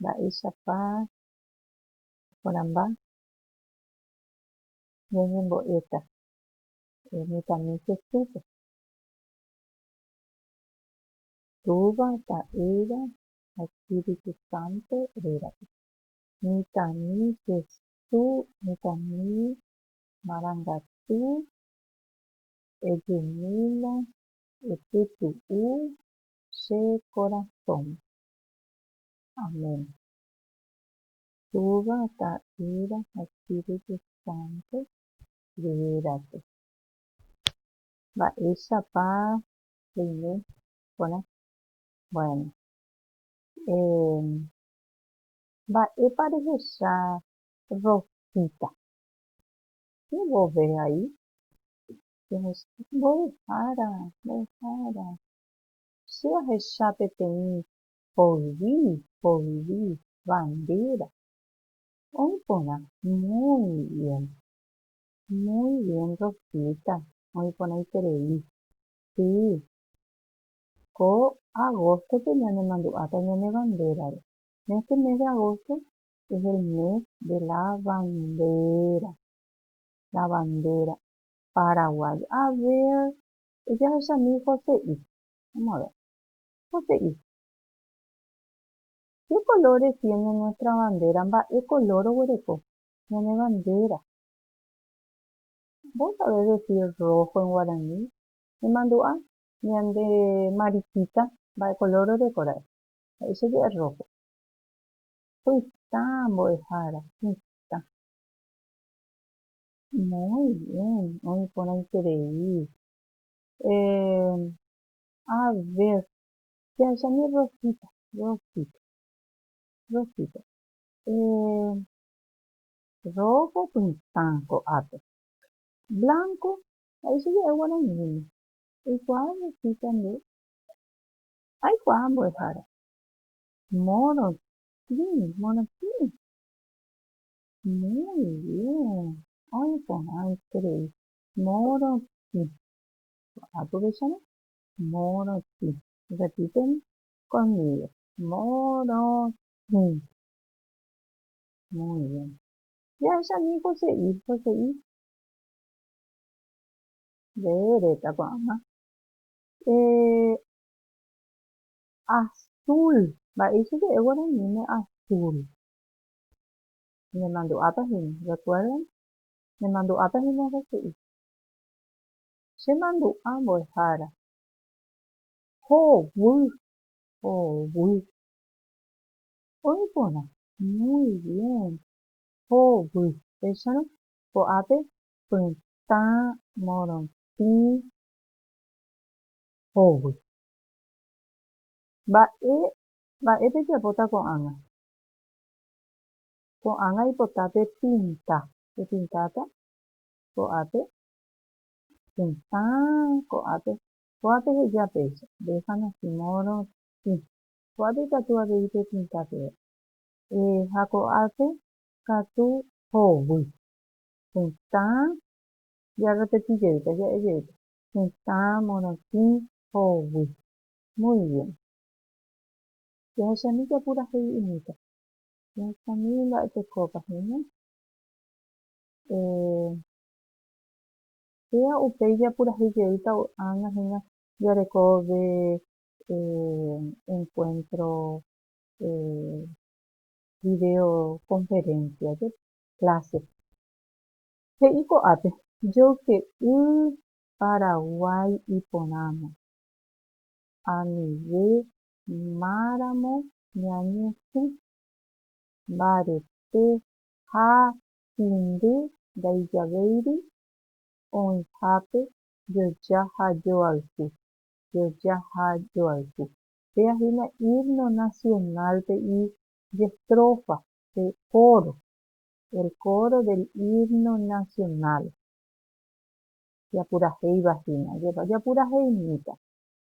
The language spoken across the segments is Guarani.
Mba'éichapa oporãmba ñañembo'éta mitãmi Jesúspe? Túva, Ta'ýra ha Espíritu Santo rérape. Mitãmi Jesús, mitãmi marangatu, ejumína, epytu'u, che korasõme. Amén. Túva, Ta'ýra ha Espíritu Santo ruvirápe. Mba'éichapa reime porã? Bueno, eh, mba'épa rehecha Rosita? Che vove vai, che vove, mbovyhára, mbovyhára, Che ahecha peteĩ poyvi poyvi bandera. Oĩ porã muy bien. Muy bien Rosita, oĩ porãiterei. Sí. Ko agosto-pe ñanemandu'áta ñane bandera-re. En este mes de agosto es el mes de la bandera. La bandera paraguaya. A ver, Ejahechami Jose'i. Vamos a ver. Jose'i. Qué color defiende nuestra bandera? Mba'e color oguereko ñane bandera. Vos sabés decir rojo en guaraní? Nemandu'a ñande mariquita mba'e color oreko ra'e. He'i che je'e rojo. Pytã mbo'ehára. Pytã. Muy bien, oĩ porãiterei. Eh, a ver, jahecháne Rosita, Rosita, Rosita. Eh, rojo pytã ko'ápe. Blanco, ha'e che ja'e guarañíme. Eikuaa Rosita nde? Aikuaa mbo'ehára. Morotĩ, morotĩ. Muy bien. Ay porã esterei. Morotĩ. Porã tuvecháme. Morotĩ. Repíteme conmigo. Morotĩ. Muy bien. Jahechami Jose'i. Jose'i. Reereta ko'ág̃a. Eh, azul. Mba'éichapa guaraníme azul? Nemandu'áta hína, rekuérdan? Nemandu'áta hína Hese'i. Chemandu'a mbo'ehára. Hovy, hovy. Oĩ porã. Muy bien. Hovy. Péicharõ, ko'ápe pytã, morotĩ, hovy. Mba'e, mba'e pejapóta ko'ág̃a? Ko'ág̃a aipota pe pinta. Pepintáta ko'ápe, tetã ko'ápe. Kóape heja péicha, Déjame así modo, tĩ. Kóape ikatu avei pepinta peve. Ha ko'ápe katu hovy. Tetã, jarrepeti jeýta, ja'e jeýta. Tetã, morotĩ, hovy. Muy bien. Jahechami japurahéi umíta. Jahechami mba'e tekópa hína. Eh, péva upéi japurahéi jeýta ág̃a hína jarekóve eh, encuentro eh, video conferencia jepe, clase. He'i ko'ápe, Joyke'y Paraguái iporãma, anive máramo ñañesỹ. Mbarete ha hindy ndaijavéiri oĩhápe joja ha joayhu, joja ha joayhu. Péa hína himno nacional-pe ijestrofa, pe coro, el coro del himno nacional. Japurahéiva hína, jopapuraheimíta.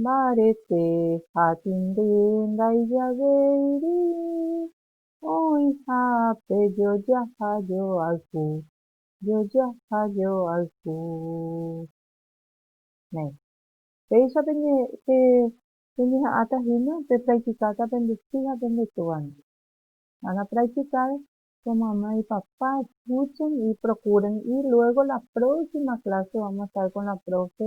Mbarete ha tĩndy ndaijavéiri oĩha pe jojaha joayhu, jojaha joayhu. Héẽ. Péicha peñeha'ãta hína pepractikáta pende sy ha pende túvape. Ha napractikáre, pemyamýi ipapá, escuchen y procuren y luego la próxima clase vamos a estar con la profe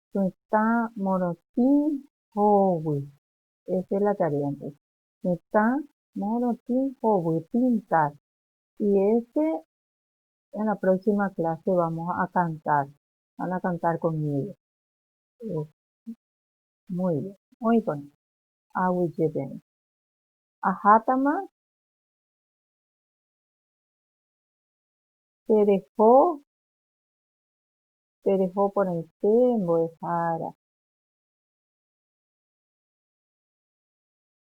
Tetã morotĩ hovy. Esa es la tarea entonces. Tetã morotĩ hovy, pintar. Y este en la próxima clase vamos a cantar. Van a cantar conmigo. Muy bien. Oĩkuri. Aguyje peẽme. Ahátama tereho tereho porãite mbo'ehára.